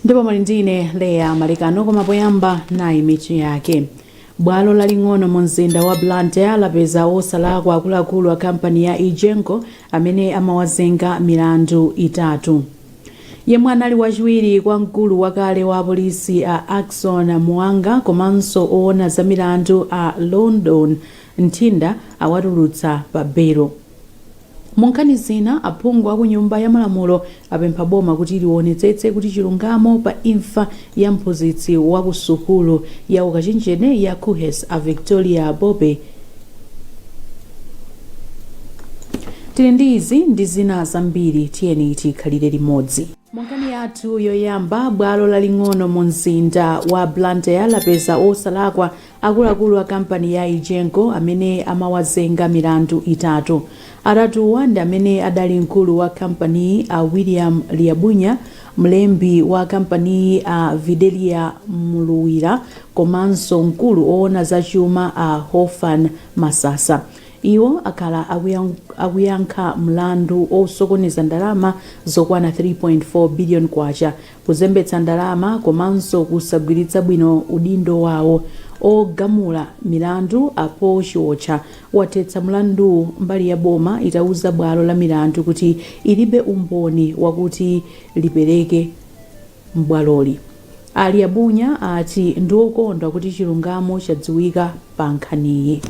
ndipo muli ndi ine leah malekano koma poyamba nayi mitu yake bwalo laling'ono mu mzinda wa blantyre lapeza osalakwa akuluakulu a kampani ya egenco amene amawazenga milandu itatu yemwe anali wachiwiri kwa mkulu wakale wa apolisi a ackson muwanga komanso owona za milandu a london nthinda awatulutsa pa belo Munkhani zina, aphungu akunyumba ya malamulo apempha boma kuti liwonetsetse kuti chilungamo pa imfa ya mphunzitsi wa ku sukulu ya ukachenjede ya KUHeS a Victoria Bobe Tili ndi izi ndi zina zambiri tiyeni tikhalire limodzi. Munkhani yathu yoyamba, bwalo laling'ono munzinda wa Blantyre lapeza wosalakwa Akuluakulu a kampani ya Egenco amene amawazenga milandu itatu. Atatuwa ndi amene adali mkulu wa kampaniyi a William Liabunya, mlembi wa kampaniyi a Videlia Mluwira komanso mkulu owona za chuma a Hofan Masasa. Iwo akhala akuyankha mlandu osokoneza ndalama zokwana K3.4 biliyoni Kuzembetsa ndalama komanso kusagwiritsa bwino udindo wawo, ogamula milandu a Paul Chiotcha wathetsa mlanduwu mbali ya boma itauza bwalo la milandu kuti ilibe umboni wakuti lipereke m'bwaloli. A Liabunya ati ndi okondwa kuti chilungamo chadziwika pa nkhaniyi.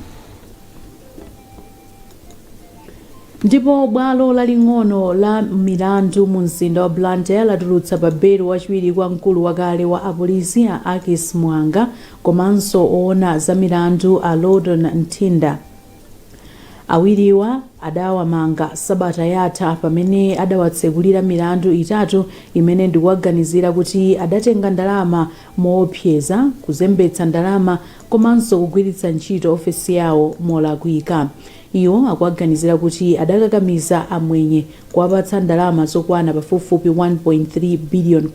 Ndipo bwalo laling'ono la milandu mu mzinda wa Blantyre latulutsa pa belo wachiwiri kwa mkulu wakale wa apolisi a Ackis Muwanga komanso owona za milandu a Lowdon Nthinda. Awiriwa adawamanga sabata yatha pamene adawatsekulira milandu itatu imene ndikuwaganizira kuti adatenga ndalama mowopseza, kuzembetsa ndalama, komanso kugwiritsa ntchito ofesi yawo molakwika. Iwo akuwaganizira kuti adakakamiza amwenye kuwapatsa ndalama zokwana pafupifupi K1.3 biliyoni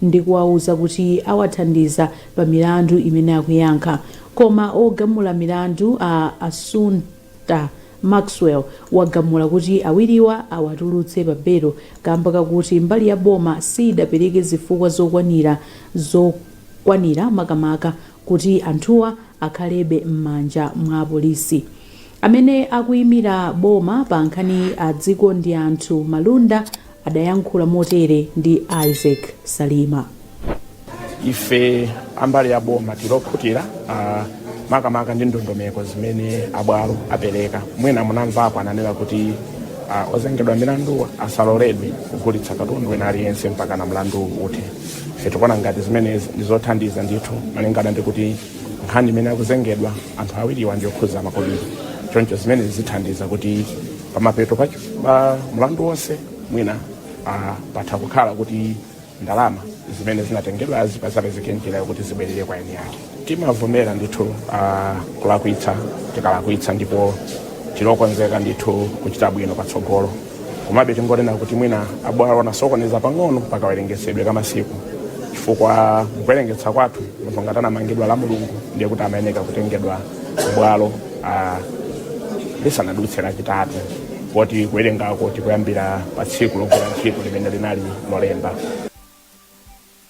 ndi kuwauza kuti awathandiza pa milandu imene akuyankha. Koma ogamula milandu a Assunta Maxwell wagamula kuti awiriwa awatulutse pa belo kaamba kakuti mbali ya boma sidapereke zifukwa zokwanira zo kwanira makamaka kuti anthuwa akhalebe mmanja mwa apolisi. Amene akuimira boma pa nkhaniyi a Dzikondianthu Malunda adayankhula motere ndi Isaac Salima. Ife ambali ya boma tili okhutira ah, makamaka ndi ndondomeko zimene abwalo apereka. Mwina munamvapo ananena kuti ah, ozengedwa milanduwa asaloledwe kugulitsa katundu wina aliyense mpaka na mlandu uthe. Ife tikuona ngati zimenezi ndi zothandiza ndithu malingana ndi kuti nkhani imene akuzengedwa anthu awiriwa ndi yokhuza makobiri choncho zimenezi zithandiza kuti pamapeto pa pa mlandu wonse mwina ah, patha kukhala kuti ndalama zimene zinatengedwazi pazapezeke njira yokuti zibwerere kwa eni yake timavomera ndithu uh, kulakwitsa tikalakwitsa ndipo tilokonzeka ndithu kuchita bwino patsogolo komabe tingonena kuti mwina abwalo anasokoneza pang'ono pakawerengetsedwe ka masiku chifukwa kuwerengetsa kwathu munthu ngati anamangidwa la mulungu ndiye kuti amayeneka kutengedwa kubwalo uh, lisanadutse lachitatu poti kuwerengako tikuyambira pa tsiku logwira ntchito limene linali lolemba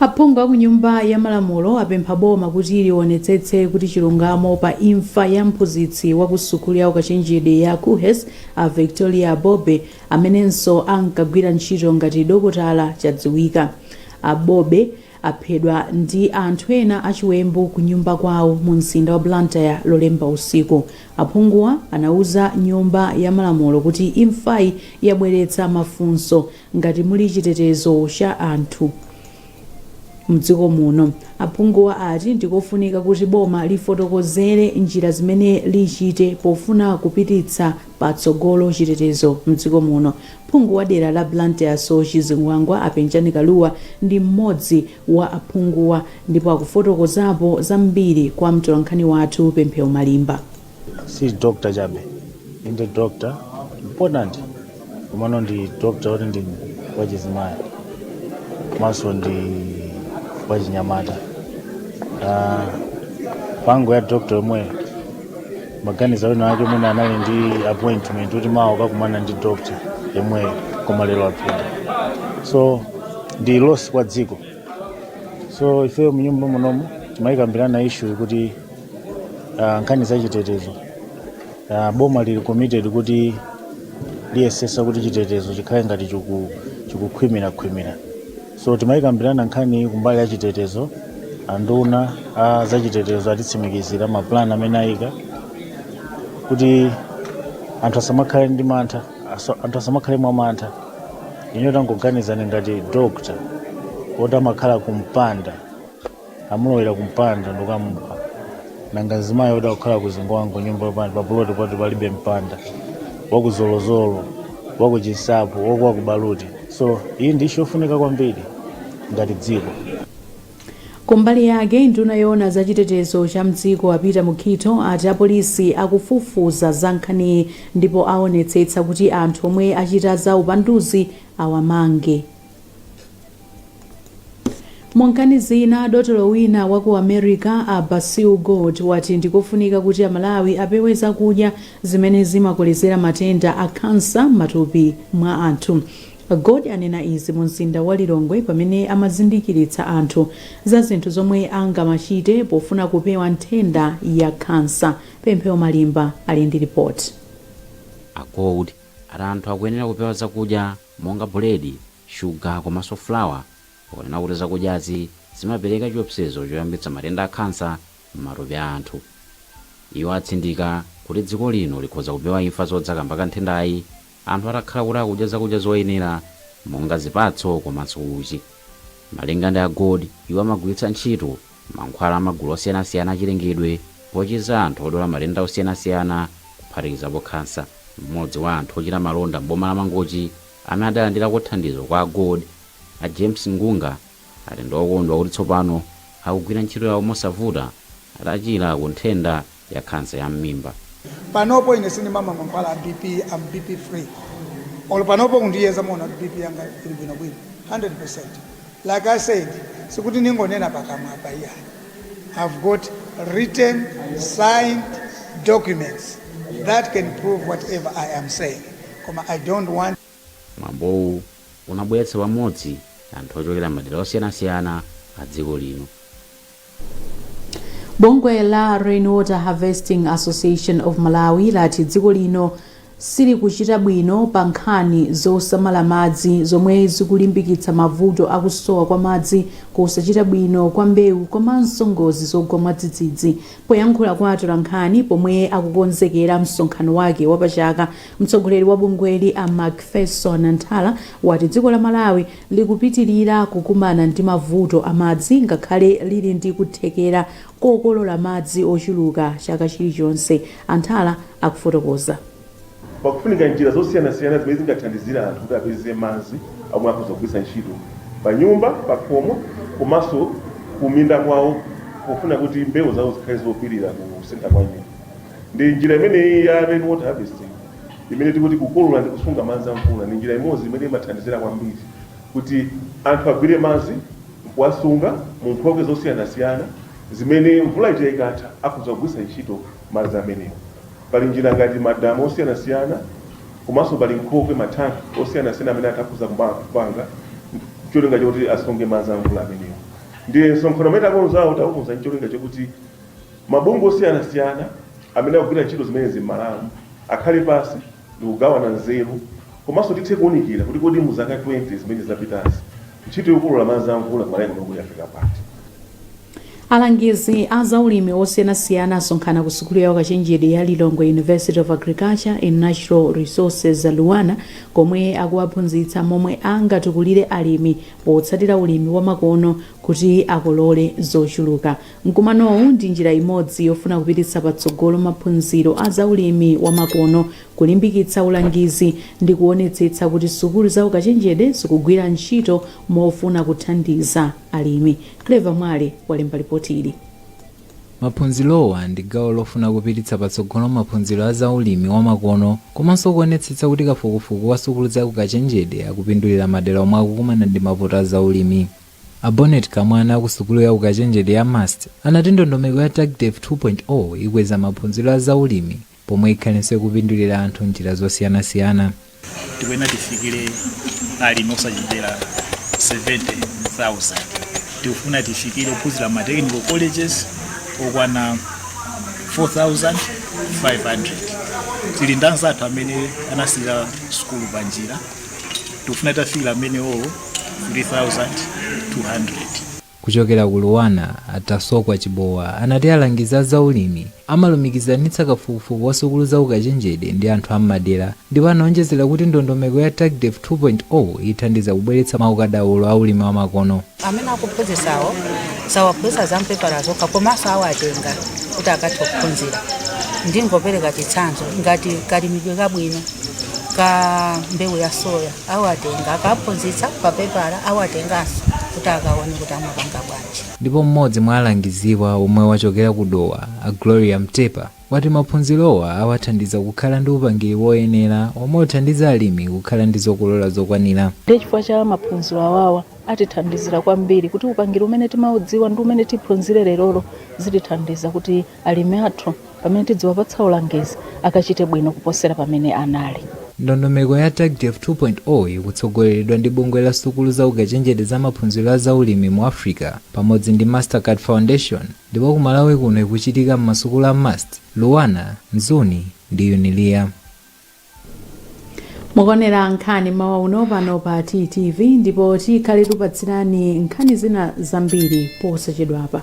Aphungu a ku Nyumba ya Malamulo apempha boma kuti lionetsetse kuti chilungamo pa imfa ya mphunzitsi wa ku sukulu ya ukachenjede ya KuHes a Victoria Bobe amenenso ankagwira ntchito ngati dokotala chadziwika. A Bobe aphedwa ndi anthu ena achiwembu ku nyumba kwawo mu mzinda wa Blantyre lolemba usiku. Aphunguwa anauza Nyumba ya Malamulo kuti imfayi yabweretsa mafunso Ngati muli chitetezo cha anthu mdziko muno, aphunguwa ati ndikofunika kuti boma lifotokozere njira zimene lichite pofuna kupititsa patsogolo chitetezo mdziko muno. Phungu wa dera la Blantyre Soche Zingwangwa a Penjani Kalua ndi mmodzi wa aphunguwa ndipo akufotokozapo zambiri kwa mtolankhani wathu Pemphero Malimba. si doctor chabe inde doctor important komano ndi doctor oti ndi wachizimayi komanso ndi wachinyamata Ah, pango ya doctor yomweyo maganiza wina wake mwina anali ndi appointment kuti mawa akakumana ndi doctor yemweyo koma lero apita so ndi loss kwa dziko so ifeyo mnyumba munomu timayikambirana issue kuti ah, nkhani za chitetezo ah, boma lili committed kuti liyesesa kuti chitetezo chikhale ngati chiku- chikukhwimirakhwimira so timayikambirana nkhani kumbali ya chitetezo anduna a za chitetezo atitsimikizira mapulani amene ayika kuti anthu asamakhale ndi mantha aso- anthu asamakhale mwa mantha ine tangoganizani ngati doctor oti amakhala kumpanda amulowera kumpanda ndikukamupha nanga mzimayi woti akukhala ku Zingwangwa nyumba yopanda papuloti poti palibe mpanda waku Zolozolo waku Chinsapo waku waku Baluti so iyi ndi issue yofunika kwambiri ngati dziko kumbali yake nduna yoona za chitetezo cha mdziko a Peter Mukhito ati apolisi akufufuza za nkhaniyi ndipo aonetsetsa kuti anthu omwe achita za upanduzi awamange Munkhani zina, dotolo wina wa ku America, a Basil Gold, wati ndikofunika kuti aMalawi apewe zakudya zimene zimakolezera matenda a khansa m'matupi mwa anthu. A Gold anena izi mu mzinda wa Lilongwe pamene amazindikiritsa anthu za zinthu zomwe angamachite pofuna kupewa nthenda ya khansa. Pemphero Malimba ali ndi lipoti. A Gold ati anthu akuyenera kupewa zakudya monga buledi, shuga komanso flour ponena kuti zakudyazi zimapereka chiopsezo choyambitsa matenda a khansa m'matupi a anthu. Iwo atsindika kuti dziko lino likhoza kupewa imfa zodza kamba ka nthendayi anthu atakhala kuti akudya zakudya zoyenera monga zipatso komanso uchi. Malinga ndi a Gold, iwo amagwiritsa ntchito mankhwala a magulu osiyanasiyana a chilengedwe pochiza anthu odwala matenda osiyanasiyana kuphatikizapo khansa. M'modzi wa anthu ochita malonda m'boma la Mangochi amene adalandirako thandizo kwa a Gold, a James Ngunga, ati ndi okondwa kuti tsopano akugwira ntchito yawo mosavuta atachira ku nthenda ya khansa ya mmimba. Panopo ine sindimamwa mankhwala a BP, I'm BP free. Olo panopo kundiyeza muona kuti BP yanga ili bwino bwino 100%. Like I said, sikuti ningonena pakamwa apa iyayi. I've got written signed documents that can prove whatever I am saying. Koma I don't want Mwambowu unabweretsa pamodzi anthu ochokera m'madera osiyanasiyana a dziko lino. Bungwe la Rainwater Harvesting Association of Malawi lati dziko lino silikuchita bwino pa nkhani zosamala madzi zomwe zikulimbikitsa mavuto a kusowa kwa madzi, kusachita bwino kwa mbewu komanso ngozi zogwa mwadzidzidzi. Poyankhula kwa atolankhani pomwe akukonzekera msonkhano wake wapachaka, Mtsogoleri wa bungweli a Macpherson Nthala wati dziko la Malawi likupitilira kukumana ndi mavuto a madzi ngakhale lili ndi kuthekera kokolola madzi ochuluka chaka chilichonse. A Nthala akufotokoza. Pakufunika njira zosiyanasiyana zimene zingathandizire anthu kuti apeze madzi omwe akhoza kugwiritsa ntchito panyumba, pakhomo komanso kuminda kwawo pofuna kuti mbewu zawo zikhale zopilira kusintha kwa nyengo. Ndi njira imeneyi ya rain water harvesting imene tikuti kukolola ndi kusunga madzi a mvula ndi njira imodzi imene imathandizira kwambiri kuti anthu agwire madzi nkuwasunga mu nkhokwe zosiyanasiyana zimene mvula ija ikatha akhoza kugwiritsa ntchito madzi amenewo. Pali njira ngati madamu osiyanasiyana komanso pali nkhokwe mathanki osiyanasiyana amene anthu akhoza kuma- kupanga cholinga choti asunge madzi a mvula amenewo. Ndiye msonkhano umene takonzawo takonza ncholinga chokuti Mabungwe osiyanasiyana amene akugwira ntchito zimenezi m'Malawi akhale pansi ndikugawana nzeru komanso tithe kuunikira kuti kodi mu zaka 20 zimene zapitazi ntchito yokolola madzi a mvula m'Malawi muno kodi yafika pati. Alangizi a zaulimi osiyanasiyana asonkhana ku sukulu ya ukachenjede ya Lilongwe University of Agriculture and Natural Resources, Luanar, komwe akuwaphunzitsa momwe angatukulire alimi potsatira ulimi wamakono kuti akolole zochuluka. Mkumanowu ndi njira imodzi yofuna kupititsa patsogolo maphunziro a za ulimi wa makono, kulimbikitsa ulangizi ndi kuwonetsetsa kuti sukulu za ukachenjede zikugwira ntchito mofuna kuthandiza alimi. Clever Mwale walemba lipoti ili. Maphunzirowa ndi gawo lofuna kupititsa patsogolo maphunziro a za ulimi wa makono komanso kuwonetsetsa kuti kafukufuku wa sukulu za ukachenjede akupindulira madera omwe akukumana ndi mavuto a za ulimi. A Bonnet Kamwana a ku sukulu ya ukachenjede ya MUST anati ndondomeko ya TAGDev 2.0 ikweza maphunziro a za ulimi pomwe ikhalenso ikupindulira anthu m'njira zosiyanasiyana. Tikuyenera tifikire alimi osachepera 70,000. Tikufuna tifikire ophunzira m'ma technical colleges okwana 4,500. Tili ndi anzathu amene anasiya sukulu panjira. tikufuna titafikira amenewo 3200 Kuchokera ku Luanar, a Tasokwa Chibowa anati alangizi a zaulimi amalumikizanitsa kafukufuku wa sukulu za ukachenjede ndi anthu a m'madera ndipo anaonjezera kuti ndondomeko ya TAGDev 2.0 ithandiza kubweretsa maukadaulo a ulimi wa makono. Amene akuphunzitsawo sawaphunzitsa za mpepala zokha komanso awatenga kuti akathe kuphunzira. Ndingopereka chitsanzo ngati kalimidwe kabwino ka mbewu ya soya awatenga akaphunzitsa pa pepala awatenganso kuti akaone kuti amapanga bwanji. Ndipo m'modzi mwa alangiziwa omwe wachokera ku Dowa a Gloria Mtepa, wati maphunzirowa awathandiza kukhala ndi upangiri woyenera omwe uthandiza alimi kukhala ndi zokolola zokwanira. Ndiye chifukwa cha maphunziro awawa atithandizira kwambiri kuti upangiri umene timaudziwa ndi umene tiphunzire lerolo zitithandiza kuti alimi athu pamene tidziwapatsa ulangizi akachite bwino kuposera pamene anali. Ndondomeko ya TAGDev 2.0 ikutsogoleredwa ndi bungwe la sukulu za ukachenjede za maphunziro a za ulimi mu Africa pamodzi ndi Mastercard Foundation Ndipo ku Malawi kuno ikuchitika mmasukulu a MUST, Luanar, Mzuni ndi Unilia. Mukuonera nkhani mmawa uno pano pa TTV ndipo tikhale tikupatsirani nkhani zina zambiri posachedwapa.